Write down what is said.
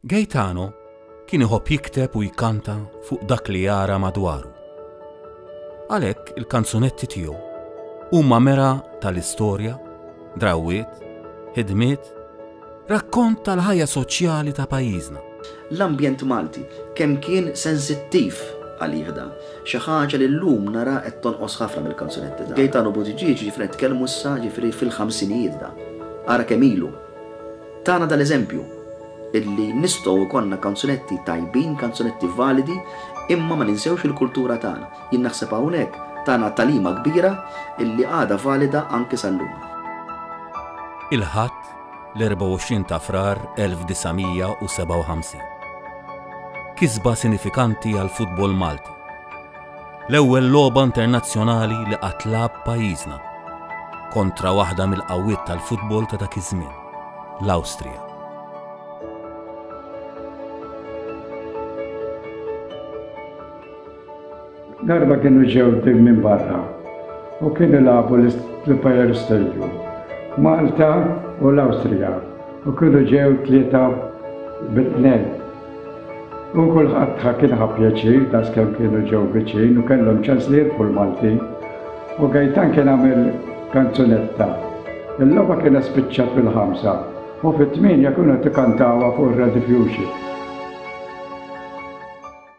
Gaetano kien iħobb jikteb u jkanta fuq dak li jara madwaru. Għalhekk il-kanzunetti tiegħu huma mera tal-istorja, drawwiet, ħidmiet, rakkont tal-ħajja soċjali ta' pajjiżna. L-ambjent Malti kemm kien sensittiv għalih dan, xi ħaġa li llum nara qed tonqos ħafna mill-kanzunetti tagħna. Gaetano Buttigieg, ġifieri qed nitkellmu issa, ġifieri fil-ħamsinijiet dan. Ara kemm ilu! Tana dal-eżempju, illi nistgħu jkollna kanzunetti tajbin, kanzunetti validi, imma ma ninsewx il-kultura tagħna. Jien naħseb hawnhekk tana tagħlima kbira illi għadha valida anki sal-lum. Il-Ħadd, l-24 ta' Frar 1957. Kisba sinifikanti għall-futbol Malti. L-ewwel logħba internazzjonali li qatt lagħab pajjiżna kontra waħda mill-qawwiet tal-futbol ta' dak iż-żmien, l-Awstrija. Darba kienu ġew tim minn barra u kien ilagħbu l-Empire Stadium. Malta u l-Awstrija u kienu ġew tlieta bit-tnejn. U kulħadd ħa kien ħa pjaċir daskemm kienu ġew viċin u kellhom ċans li jirfu l-Maltin. U Gajtan kien għamel kanzunetta. Il-logħba kienet spiċċat fil-ħamsa u fit-tmienja kienu qed ikantawha fuq ir-Radio Fusion.